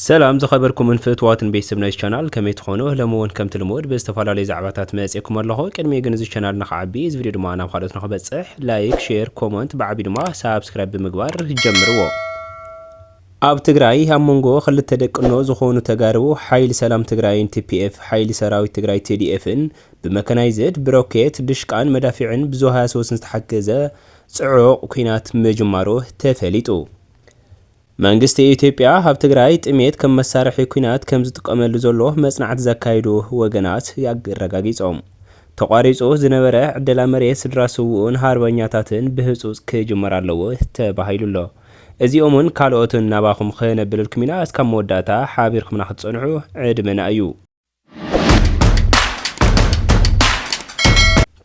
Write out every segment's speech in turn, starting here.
ሰላም ዝኸበርኩምን ፍትዋትን ቤተሰብ ናይዚ ቻናል ከመይ ትኾኑ ሎሚ ውን ከምቲ ልሙድ ብዝተፈላለዩ ዛዕባታት መጽኤኩም ኣለኹ ቅድሚ ግን እዚ ቻናል ንኽዓቢ እዚ ቪድዮ ድማ ናብ ካልኦት ንኽበጽሕ ላይክ ሼር ኮመንት ብዓቢ ድማ ሳብስክራይብ ብምግባር ጀምርዎ ኣብ ትግራይ ኣብ መንጎ ክልተ ደቅኖ ዝኾኑ ተጋሩ ሓይሊ ሰላም ትግራይን ቲፒኤፍ ሓይሊ ሰራዊት ትግራይ ቲዲኤፍን ብመከናይዝድ ብሮኬት ድሽቃን መዳፊዕን ብዙ ሃያሰወስን ዝተሓገዘ ጽዑቕ ኩናት ምጅማሩ ተፈሊጡ መንግስቲ ኢትዮጵያ ኣብ ትግራይ ጥሜት ከም መሳርሒ ኲናት ከም ዝጥቀመሉ ዘሎ መጽናዕቲ ዘካይዱ ወገናት ኣረጋጊጾም። ተቋሪጹ ዝነበረ ዕደላ መሬት ስድራ ስውኡን ሃርበኛታትን ብህጹጽ ክጅመር ኣለዎ ተባሂሉ'ሎ። እዚኦምን ካልኦትን ናባኹም ክነብልልኩም ኢና እስካብ መወዳእታ ሓቢርኩምና ክትጸንሑ ዕድመና እዩ።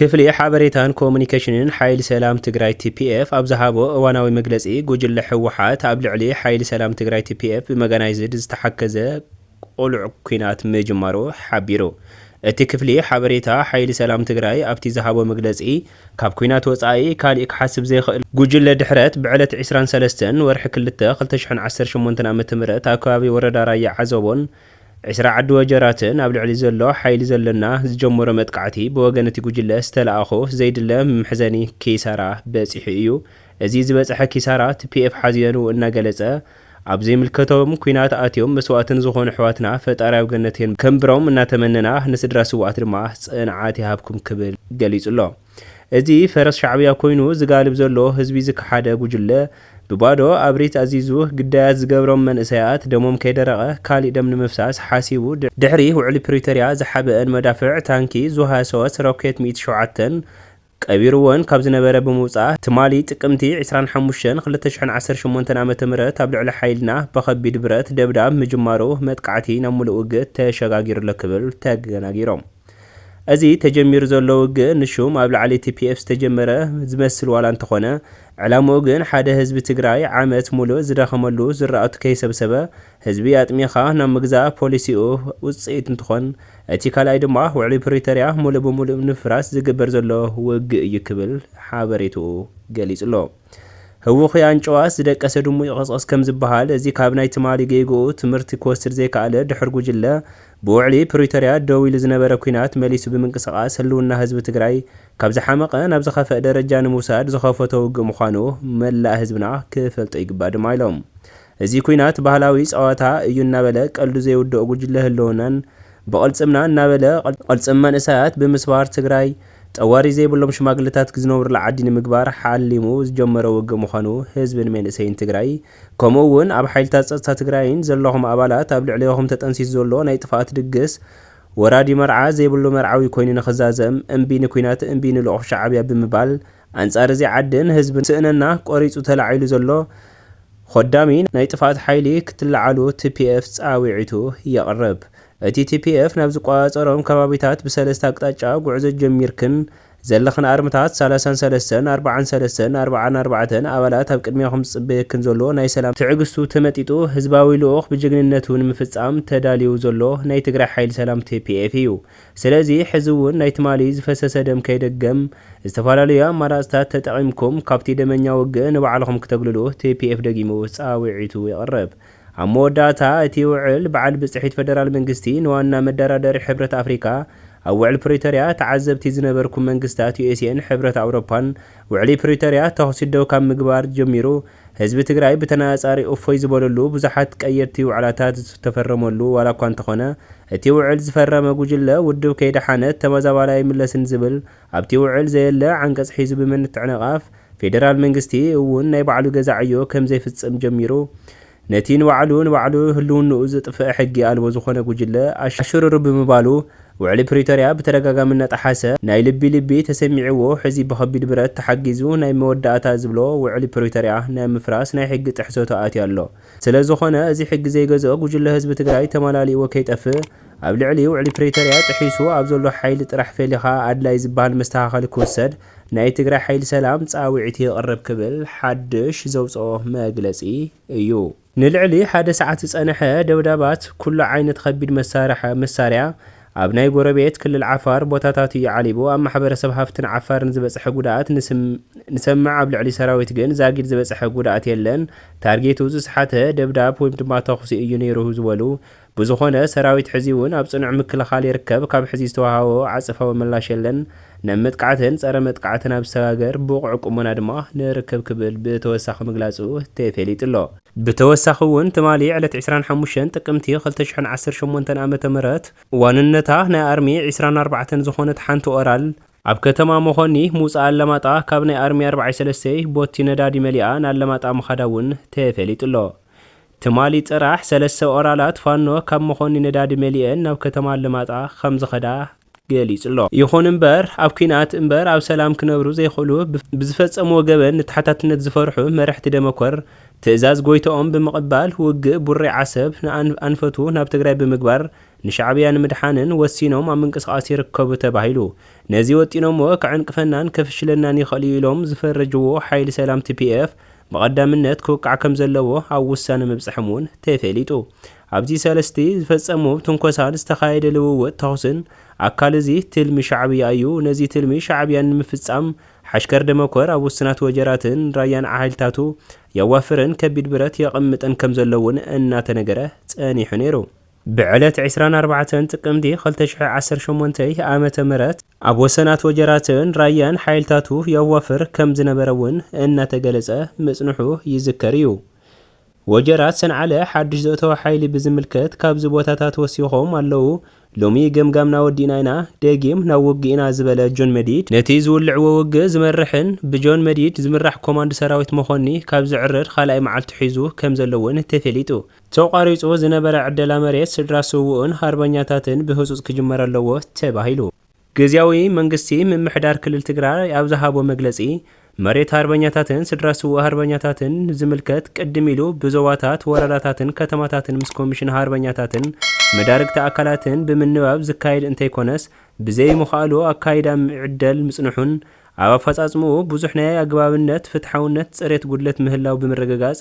ክፍሊ ሓበሬታን ኮሙኒኬሽንን ሓይሊ ሰላም ትግራይ ቲፒኤፍ ኣብ ዝሃቦ እዋናዊ መግለፂ ጉጅለ ህወሓት ኣብ ልዕሊ ሓይሊ ሰላም ትግራይ ቲፒኤፍ ብመጋናይዝድ ዝተሓከዘ ቁሉዕ ኩናት ምጅማሩ ሓቢሩ። እቲ ክፍሊ ሓበሬታ ሓይሊ ሰላም ትግራይ ኣብቲ ዝሃቦ መግለፂ ካብ ኩናት ወፃኢ ካሊእ ክሓስብ ዘይኽእል ጉጅለ ድሕረት ብዕለት ዕስራን ሰለስተን ወርሒ ክልተ ክልተ ሽሕን ዓሰርተ ሸሞንተን ዓ.ም ኣብ ከባቢ ወረዳ ራያ ዓዘቦን ዕስራ ዓዲ ወጀራትን ኣብ ልዕሊ ዘሎ ሓይሊ ዘለና ዝጀመሮ መጥቃዕቲ ብወገን እቲ ጉጅለ ዝተለኣኾ ዘይድለ መሕዘኒ ኪሳራ በፂሑ እዩ። እዚ ዝበፀሐ ኪሳራ ትፒኤፍ ሓዚነኑ እናገለፀ ኣብ ዘይምልከቶም ኩናት ኣትዮም መስዋእቲ ንዝኾኑ ኣሕዋትና ፈጣሪ ኣብ ገነት የንብሮም እናተመነና ንስድራ ስውኣት ድማ ፅንዓት ይሃብኩም ክብል ገሊፁ'ሎ። እዚ ፈረስ ሻዕብያ ኮይኑ ዝጋልብ ዘሎ ህዝቢ ዝከሓደ ጉጅለ ብባዶ ኣብሪት ኣዚዙ ግዳያት ዝገብሮም መንእሰያት ደሞም ከይደረቐ ካሊእ ደም ንምፍሳስ ሓሲቡ ድሕሪ ውዕሊ ፕሪቶርያ ዝሓበእን መዳፍዕ ታንኪ ዙ ሃያ ሶስት ሮኬት ሚእቲ ሸውዓተን ቀቢርወን ካብ ዝነበረ ብምውፃእ ትማሊ ጥቅምቲ ዕስራን ሓሙሽተን ክልተ ሽሕን ዓሰርተ ሸሞንተን ዓመተ ምህረት ኣብ ልዕሊ ሓይልና በኸቢድ ብረት ደብዳብ ምጅማሩ መጥቃዕቲ ናብ ሙሉእ ውግእ ተሸጋጊሩ'ሎ ክብል ተገናጊሮም። እዚ ተጀሚሩ ዘሎ ውግእ ንሹም ኣብ ላዕሊ ቲፒኤፍ ዝተጀመረ ዝመስል ዋላ እንተኾነ ዕላምኡ ግን ሓደ ህዝቢ ትግራይ ዓመት ሙሉእ ዝደኸመሉ ዝራእቱ ከይሰብሰበ ህዝቢ ኣጥሚኻ ናብ ምግዛእ ፖሊሲኡ ውፅኢት እንትኾን እቲ ካልኣይ ድማ ውዕሊ ፕሪቶርያ ሙሉእ ብሙሉእ ንምፍራስ ዝግበር ዘሎ ውግእ እዩ ክብል ሓበሬትኡ ገሊፁ'ሎ። ህውኹይ ኣንጭዋስ ዝደቀሰ ድሙ ይቕስቕስ ከምዝበሃል እዚ ካብ ናይ ትማሊ ጌግኡ ትምህርቲ ክወስድ ዘይከኣለ ድሑር ጉጅለ ብውዕሊ ፕሪቶርያ ደው ኢሉ ዝነበረ ኲናት መሊሱ ብምንቅስቓስ ህልውና ህዝቢ ትግራይ ካብ ዝሓመቐ ናብ ዝኸፈእ ደረጃ ንምውሳድ ዝኸፈቶ ውግእ ምዃኑ መላእ ህዝብና ክፈልጦ ይግባእ ድማ ኢሎም። እዚ ኲናት ባህላዊ ፀዋታ እዩ እናበለ ቀልዱ ዘይውድኦ ጉጅለ ህልውናን ብቕልፅምና እናበለ ቕልፅም መንእሰያት ብምስባር ትግራይ ጠዋሪ ዘይብሎም ሽማግለታት ዝነብሩላ ዓዲ ንምግባር ሓሊሙ ዝጀመሮ ውግእ ምዃኑ ህዝብን መንእሰይን ትግራይ ከምኡ እውን ኣብ ሓይልታት ፀፅታ ትግራይን ዘለኹም ኣባላት ኣብ ልዕሌኹም ተጠንሲሱ ዘሎ ናይ ጥፍኣት ድግስ ወራዲ መርዓ ዘይብሉ መርዓዊ ኮይኑ ንኽዛዘም እምቢ ንኩናት እምቢ ንልኡኽ ሻዓብያ ብምባል ኣንፃር እዚ ዓድን ህዝብን ስእነና ቆሪፁ ተላዒሉ ዘሎ ኾዳሚ ናይ ጥፍኣት ሓይሊ ክትለዓሉ tpf ፃዊዒቱ የቕርብ እቲ tpf ናብ ዝቆፃፀሮም ከባቢታት ብሰለስተ ኣቅጣጫ ጉዕዞ ጀሚርክን ዘለኽን ኣርምታት ሳላሳን ሰለስተን ኣርባዓን ሰለስተን ኣርባዓን ኣርባዕተን ኣባላት ኣብ ቅድሚያኹም ዝጽበየክን ዘሎ ናይ ሰላም ትዕግስቱ ተመጢጡ ህዝባዊ ልኡኽ ብጅግንነቱ ንምፍጻም ተዳልዩ ዘሎ ናይ ትግራይ ሓይሊ ሰላም tpf እዩ። ስለዚ ሕዚ እውን ናይ ትማሊ ዝፈሰሰ ደም ከይደገም ዝተፈላለዩ ኣማራጽታት ተጠቒምኩም ካብቲ ደመኛ ውግእ ንባዕልኹም ክተግልሉ tpf ደጊሙ ጻውዒቱ የቕርብ። ኣብ መወዳእታ እቲ ውዕል፣ በዓል ብፅሒት ፈደራል መንግስቲ ንዋና መደራደሪ ሕብረት ኣፍሪካ ኣብ ውዕል ፕሪቶርያ ተዓዘብቲ ዝነበርኩም መንግስታት ዩኤስኤን ሕብረት ኣውሮፓን ውዕሊ ፕሪቶርያ ተኹሲ ደው ካብ ምግባር ጀሚሩ ህዝቢ ትግራይ ብተነፃፃሪ እፎይ ዝበለሉ ብዙሓት ቀየድቲ ውዕላታት ዝተፈረመሉ ዋላ እኳ እንተኾነ እቲ ውዕል ዝፈረመ ጉጅለ ውድብ ከይደሓነት ተመዛባላይ ኣይምለስን ዝብል ኣብቲ ውዕል ዘየለ ዓንቀጽ ሒዙ ብምንትዕንቓፍ፣ ፌደራል መንግስቲ እውን ናይ ባዕሉ ገዛ ዕዮ ከም ዘይፍጽም ጀሚሩ፣ ነቲ ንባዕሉ ንባዕሉ ህልውንኡ ዘጥፍእ ሕጊ ኣልቦ ዝኾነ ጉጅለ ኣሽሩሩ ብምባሉ፣ ውዕሊ ፕሪቶርያ ብተደጋጋሚ እናጠሓሰ፣ ናይ ልቢ ልቢ ተሰሚዕዎ ሕዚ ብኸቢድ ብረት ተሓጊዙ ናይ መወዳእታ ዝብሎ ውዕሊ ፕሪቶርያ ናይ ምፍራስ ናይ ሕጊ ጥሕሰቱ ኣትዩ ኣሎ። ስለዝኾነ እዚ ሕጊ ዘይገዝኦ ጉጅለ ህዝቢ ትግራይ ተማላሊእዎ ከይጠፍእ ኣብ ልዕሊ ውዕሊ ፕሪተርያ ጥሒሱ ኣብ ዘሎ ሓይሊ ጥራሕ ፈሊኻ ኣድላይ ዝብሃል መስተኻኸሊ ክውሰድ ናይ ትግራይ ሓይሊ ሰላም ፃውዒት የቕርብ ክብል ሓድሽ ዘውፀኦ መግለፂ እዩ። ንልዕሊ ሓደ ሰዓት ዝፀነሐ ደብዳባት ኩሉ ዓይነት ኸቢድ መሳርያ፣ ኣብ ናይ ጎረቤት ክልል ዓፋር ቦታታት እዩ ዓሊቡ ኣብ ማሕበረሰብ ሃፍትን ዓፋርን ዝበፀሐ ጉድኣት ንሰምዕ ኣብ ልዕሊ ሰራዊት ግን ዛጊድ ዝበፀሐ ጉድኣት የለን ታርጌቱ ዝሰሓተ ደብዳብ ወይም ድማ ተኹሲ እዩ ነይሩ ዝበሉ ብዝኾነ ሰራዊት ሕዚውን ኣብ ፅኑዕ ምክልኻል ይርከብ ካብ ሕዚ ዝተወሃቦ ዓፅፋዊ ምላሽ የለን ናብ መጥቃዕትን ጸረ መጥቃዕትን ኣብ ዝሰጋገር ብቑዕ ቁመና ድማ ንርከብ ክብል ብተወሳኺ ምግላጹ ተፌሊጡ'ሎ። ብተወሳኺ'ውን ትማሊ ዕለት ዕስራን ሓሙሽተን ጥቅምቲ ክልተ ሽሕን ዓሰርተ ሸሞንተን ኣመተ ምህረት ዋንነታ ናይ ኣርሚ ዕስራን ኣርባዕተን ዝኾነት ሓንቲ ኦራል፣ ኣብ ከተማ መኾኒ ምውጻእ ኣለማጣ ካብ ናይ ኣርሚ ኣርብዓይ ሰለስተይ ቦቲ ነዳዲ መሊኣ ንኣለማጣ ምኻዳ'ውን ተፌሊጡ'ሎ። ትማሊ ጥራሕ ሰለስተ ኦራላት ፋኖ ካብ መኾኒ ነዳዲ መሊኤን ናብ ከተማ ኣለማጣ ከምዝኸዳ ገሊጹ'ሎ። ይኹን'ምበር ኣብ ኲናት እምበር ኣብ ሰላም ክነብሩ ዘይኽእሉ ብዝፈጸምዎ ገበን ንተሓታትነት ዝፈርሑ መረሕቲ ደመኮር ትእዛዝ ጎይትኦም ብምቕባል ውግእ ቡሬ ዓሰብ ንኣንፈቱ ናብ ትግራይ ብምግባር ንሻዕብያ ንምድሓንን ወሲኖም ኣብ ምንቅስቓስ ይርከቡ ተባሂሉ ነዚ ወጢኖሞ ከዕንቅፈናን ከፍሽለናን ይኽእል'ዩ ኢሎም ዝፈረጅዎ ሓይሊ ሰላም tpf ብቐዳምነት ክውቃዕ ከምዘለዎ ኣብ ውሳነ ምብጸሐም'ውን ተፌሊጡ። ኣብዚ ሰልስቲ ዝፈጸሞ ትንኮሳን ዝተኻየደ ልውውጥ ተኹስን ኣካል እዚ ትልሚ ሻዕብያ እዩ። ነዚ ትልሚ ሻዕብያን ንምፍጻም ሓሽከር ደመኮር ኣብ ውስናት ወጀራትን ራያን ዓሃይልታቱ የዋፍርን ከቢድ ብረት የቐምጥን ከምዘሎ'ውን እናተነገረ ጸኒሑ ነይሩ። ብዕለት ዕስራን ኣርባዕተን ጥቅምቲ ክልተ ሽሕ ዓሰርተ ሸሞንተ ዓመተ ምህረት ኣብ ወሰናት ወጀራትን ራያን ሓይልታቱ የዋፍር ከምዝነበረ'ውን እናተገለጸ ምጽንሑ ይዝከር እዩ። ወጀራት ሰንዓለ ሓድሽ ዘእተወ ሓይሊ ብዝምልከት ካብዚ ቦታታት ወሲኾም ኣለዉ። ሎሚ ገምጋምና ወዲእና ኢና፣ ደጊም ናብ ውግእ ኢና ዝበለ ጆን መዲድ፣ ነቲ ዝውልዕዎ ውግእ ዝመርሕን ብጆን መዲድ ዝምራሕ ኮማንድ ሰራዊት መኮኒ ካብ ዝዕርር ካልኣይ መዓልቱ ሒዙ ከምዘሎ እውን ተፌሊጡ። ተቋሪጹ ዝነበረ ዕደላ መሬት ስድራ ስዉእን ሃርበኛታትን ብህጹጽ ክጅመር ኣለዎ ተባሂሉ። ግዝያዊ መንግስቲ ምምሕዳር ክልል ትግራይ ኣብ ዝሃቦ መግለፂ፣ መሬት ሃርበኛታትን ስድራ ስዉእ ሃርበኛታትን ዝምልከት ቅድም ኢሉ ብዞባታት፣ ወረዳታትን ከተማታትን ምስ ኮሚሽን ሃርበኛታትን መዳርግቲ ኣካላትን ብምንባብ ዝካየድ እንተይኮነስ ብዘይምኽኣሉ ኣካይዳ ይዕደል ምፅንሑን ኣብ ኣፈፃፅምኡ ብዙሕ ናይ ኣግባብነት፣ ፍትሓውነት፣ ፅሬት ጉድለት ምህላው ብምርግጋፅ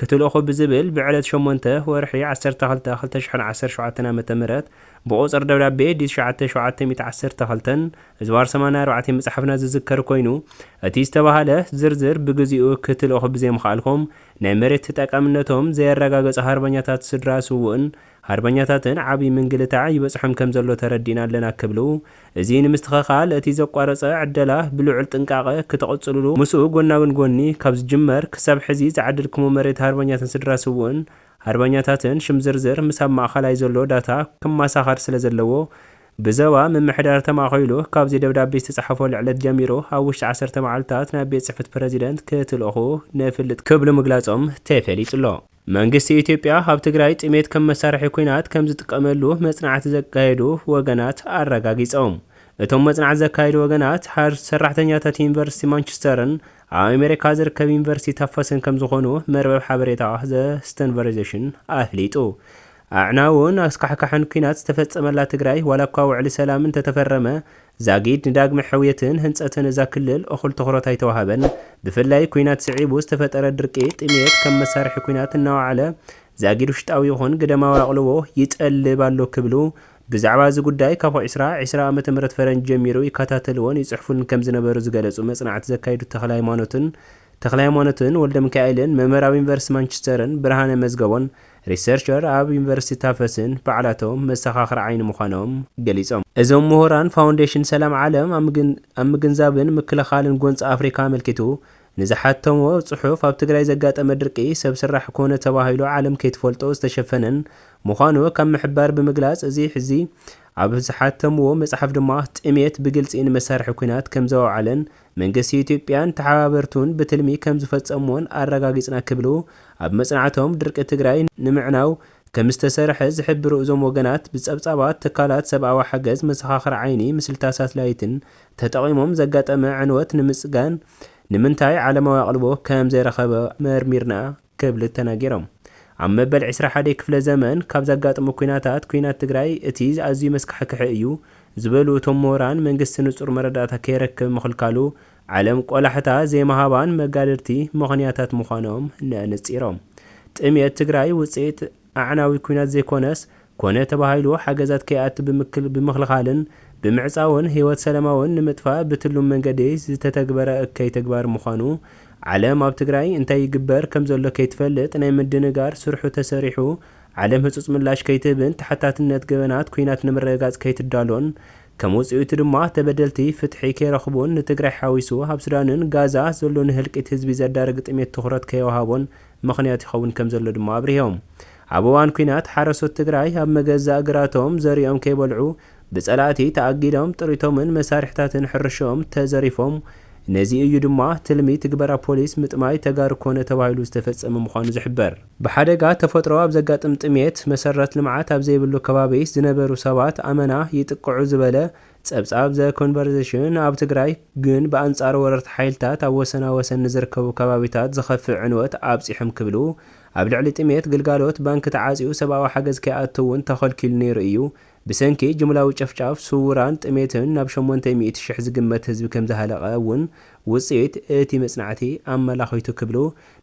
ክትልእኹ ብዝብል ብዕለት ሸሞንተ ወርሒ ዓሰርተ ክልተ ክልተ ሽሕን ዓሰርተ ሸውዓተን ዓመተ ምህረት ብቑጽር ደብዳቤ ዲ ትሽዓተ ሸውዓተ ሚእቲ ዓሰርተ ክልተን ዝባር ሰማንያ ኣርባዕቴ ምጽሓፍና ዝዝከር ኮይኑ እቲ ዝተባህለ ዝርዝር ብግዚኡ ክትልእኹ ብዘይምኽኣልኩም ናይ መሬት ተጠቃምነቶም ዘየረጋገጹ ሃርበኛታት ስድራ ስዉእን ሃርበኛታትን ዓቢ ምንግልታዕ ይበጽሖም ከምዘሎ ተረዲእና ኣለና ክብሉ እዚ ንምስትኸኻል እቲ ዘቋረጸ ዕደላ ብልዑል ጥንቃቐ ክተቐጽሉሉ ምስኡ ጎናግን ጎኒ ካብ ዝጅመር ክሳብ ሕዚ ዝዓደልክሞ መሬት ሃርበኛትን ስድራ ስውእን ሃርበኛታትን ሽም ዝርዝር ምስ ኣብ ማእኸላይ ዘሎ ዳታ ክማሳኸር ስለ ዘለዎ ብዘባ ምምሕዳር ተማእኸይሉ ካብዚ ደብዳቤ ዝተጻሓፈሉ ዕለት ጀሚሩ ኣብ ውሽጢ ዓሰርተ መዓልታት ናብ ቤት ጽሕፍት ፕረዚደንት ክትልእኹ ንፍልጥ ክብሉ ምግላጾም ተፈሊጡሎ። መንግስቲ ኢትዮጵያ ኣብ ትግራይ ጥሜት ከም መሳርሒ ኲናት ከም ዝጥቀመሉ መጽናዕቲ ዘካየዱ ወገናት ኣረጋጊጾም። እቶም መጽናዕቲ ዘካየዱ ወገናት፣ ሓረስቲ ሰራሕተኛታት ዩኒቨርሲቲ ማንቸስተርን ኣብ ኣሜሪካ ዝርከብ ዩኒቨርሲቲ ታፈስን ከም ዝዀኑ መርበብ ሓበሬታ ዘ ስተንቨርዜሽን ኣፍሊጡ። ኣዕናውን ኣስካሕካሕን ኲናት ዝተፈጸመላ ትግራይ፣ ዋላ'ኳ ውዕሊ ሰላም እንተተፈረመ፣ ዛጊድ ንዳግመ ሕውየትን ህንፀትን እዛ ክልል እኹል ትኹረት ኣይተውሃበን። ብፍላይ ኲናት ስዒቡ ዝተፈጠረ ድርቂ፣ ጥምየት ከም መሳርሒ ኲናት እናወዓለ ዛጊድ ውሽጣዊ ይኹን ግደማዊ ኣቕልቦ ይጠልብ ኣሎ ክብሉ ብዛዕባ እዚ ጉዳይ ካብ ዕስራ ዕስራ ዓመተ ምህረት ፈረንጅ ጀሚሩ ይከታተልዎን ይፅሕፉን ከምዝነበሩ ዝገለፁ መፅናዕቲ ዘካይዱ ተኽለሃይማኖትን ተኽለሃይማኖትን ወልደሚካኤልን መምህር ኣብ ዩኒቨርስቲ ማንችስተርን ብርሃነ መዝገቦን ሪሰርቸር ኣብ ዩኒቨርሲቲ ታፈስን ባዕላቶም መሰኻኽር ዓይኒ ምዃኖም ገሊፆም። እዞም ምሁራን ፋውንዴሽን ሰላም ዓለም ኣብ ምግንዛብን ምክልኻልን ጎንፂ ኣፍሪካ ኣመልኪቱ ንዝሓተሞ ፅሑፍ ኣብ ትግራይ ዘጋጠመ ድርቂ ሰብ ስራሕ ኮነ ተባሂሉ ዓለም ከይትፈልጦ ዝተሸፈነን ምዃኑ ካብ ምሕባር ብምግላፅ እዚ ሕዚ ኣብ ዝሓተምዎ መፅሓፍ ድማ ጥምየት ብግልፂ ንመሳርሒ ኲናት ከምዘወዓለን መንግስቲ ኢትዮጵያን ተሓባበርቱን ብትልሚ ከምዝፈፀምዎን ኣረጋጊፅና ክብሉ ኣብ መፅናዕቶም ድርቂ ትግራይ ንምዕናው ከምዝተሰርሐ ዝሕብሩ እዞም ወገናት ብፀብፃባት ትካላት ሰብኣዊ ሓገዝ መሰኻኽር ዓይኒ ምስልታት ሳትላይትን ተጠቒሞም ዘጋጠመ ዕንወት ንምፅጋን ንምንታይ ዓለማዊ ኣቕልቦ ከምዘይረኸበ መርሚርና ክብል ተናጊሮም። ኣብ መበል ዕስራ ሓደ ክፍለ ዘመን ካብ ዘጋጥሙ ኩናታት ኩናት ትግራይ እቲ ኣዝዩ መስካሕክሒ እዩ ዝበሉ እቶም ምሁራን መንግስቲ ንፁር መረዳእታ ከይረክብ ምኽልካሉ ዓለም ቆላሕታ ዘይምሃባን መጋድድቲ ምኽንያታት ምዃኖም ነእንፂሮም። ጥምየት ትግራይ ውፅኢት ኣዕናዊ ኲናት ዘይኮነስ፣ ኮነ ተባሂሉ ሓገዛት ከይኣቱ ብምክል ብምኽልኻልን ብምዕጻውን ህይወት ሰላማውን ንምጥፋእ ብትሉም መንገዲ ዝተተግበረ እከይ ተግባር ምዃኑ፣ ዓለም ኣብ ትግራይ እንታይ ይግበር ከምዘሎ ከይትፈልጥ ናይ ምድንጋር ስርሑ ተሰሪሑ ዓለም ህጹጽ ምላሽ ከይትህብን ተሓታትነት ገበናት ኲናት ንምርግጋጽ ከይትዳሎን ከም ውጽኢቱ ድማ ተበደልቲ ፍትሒ ከይረኽቡን ንትግራይ ሓዊሱ ኣብ ሱዳንን ጋዛ ዘሎ ንህልቂት ህዝቢ ዘዳርግ ጥሜት ትኹረት ከይወሃቦን ምኽንያት ይኸውን ከምዘሎ ድማ ኣብሪሆም። ኣብ እዋን ኲናት ሓረስቶት ትግራይ ኣብ መገዛእ ግራቶም ዘሪኦም ከይበልዑ ብፀላእቲ ተኣጊዶም ጥሪቶምን መሳርሕታትን ሕርሽኦም ተዘሪፎም ነዚ እዩ ድማ ትልሚ ትግበራ ፖሊስ ምጥማይ ተጋሩ ኮነ ተባሂሉ ዝተፈፀመ ምዃኑ ዝሕበር። ብሓደጋ ተፈጥሮ ኣብ ዘጋጥም ጥምየት፣ መሰረት ልምዓት ኣብ ዘይብሉ ከባቢ ዝነበሩ ሰባት ኣመና ይጥቅዑ ዝበለ ጸብጻብ ዘ ኮንቨርዘሽን፣ ኣብ ትግራይ ግን ብኣንጻር ወረርቲ ሓይልታት ኣብ ወሰናወሰን ንዝርከቡ ከባቢታት ዝኸፍእ ዕንወት ኣብጺሑም ክብሉ፣ ኣብ ልዕሊ ጥሜት፣ ግልጋሎት ባንኪ ተዓጽዩ ሰብኣዊ ሓገዝ ከይኣቱ እውን ተኸልኪሉ ነይሩ እዩ። ብሰንኪ ጅምላዊ ጨፍጫፍ ስውራን ጥሜትን ናብ ሸሞንተ ሚእቲ ሽሕ ዝግመት ህዝቢ ከምዝሃለቐ እውን ውጽኢት እቲ መጽናዕቲ ኣመላኺቱ ክብሉ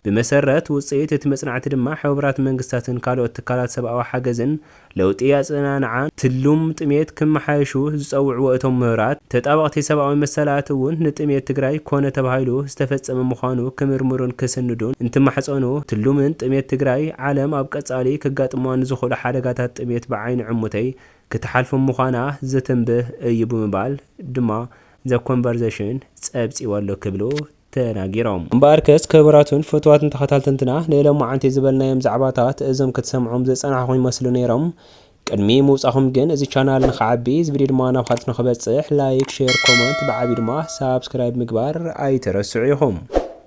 ብመሰረት ውፅኢት እቲ መፅናዕቲ ድማ ሕቡራት መንግስታትን ካልኦት ትካላት ሰብኣዊ ሓገዝን ለውጢ ኣፀናንዓ ትልም ጥምየት ክመሓየሹ ዝፀውዕዎ እቶም ምሁራት ተጣበቕቲ ሰብኣዊ መሰላት እውን ንጥምየት ትግራይ ኮነ ተባሂሉ ዝተፈፀመ ምዃኑ ክምርምሩን ክስንዱን እንትማሕፀኑ ትልምን ጥምየት ትግራይ ዓለም ኣብ ቀፃሊ ከጋጥምዋ ንዝኽእሉ ሓደጋታት ጥምየት ብዓይኒ ዕሙተይ ክትሓልፎም ምዃና ዘተንብህ እዩ ብምባል ድማ ዘ ኮንቨርዘሽን ፀብፂቡ ኣሎ ክብሉ ተናጊሮም። እምበኣርከስ ክብራቱን ፍቱዋትን ተኸታልትንትና ንሎማዓንቲ ዝበልናዮም ዛዕባታት እዞም ክትሰምዑም ዝጸናሕኹም ይመስሉ ነይሮም ቅድሚ ምውጻኹም ግን እዚ ቻናል ንኽዓቢ እዚ ቪድዮ ድማ ናብ ኻልኦት ንኽበጽሕ ላይክ ሼር ኮመንት ብዓብዩ ድማ ሳብስክራይብ ምግባር ኣይትረስዑ ኢኹም።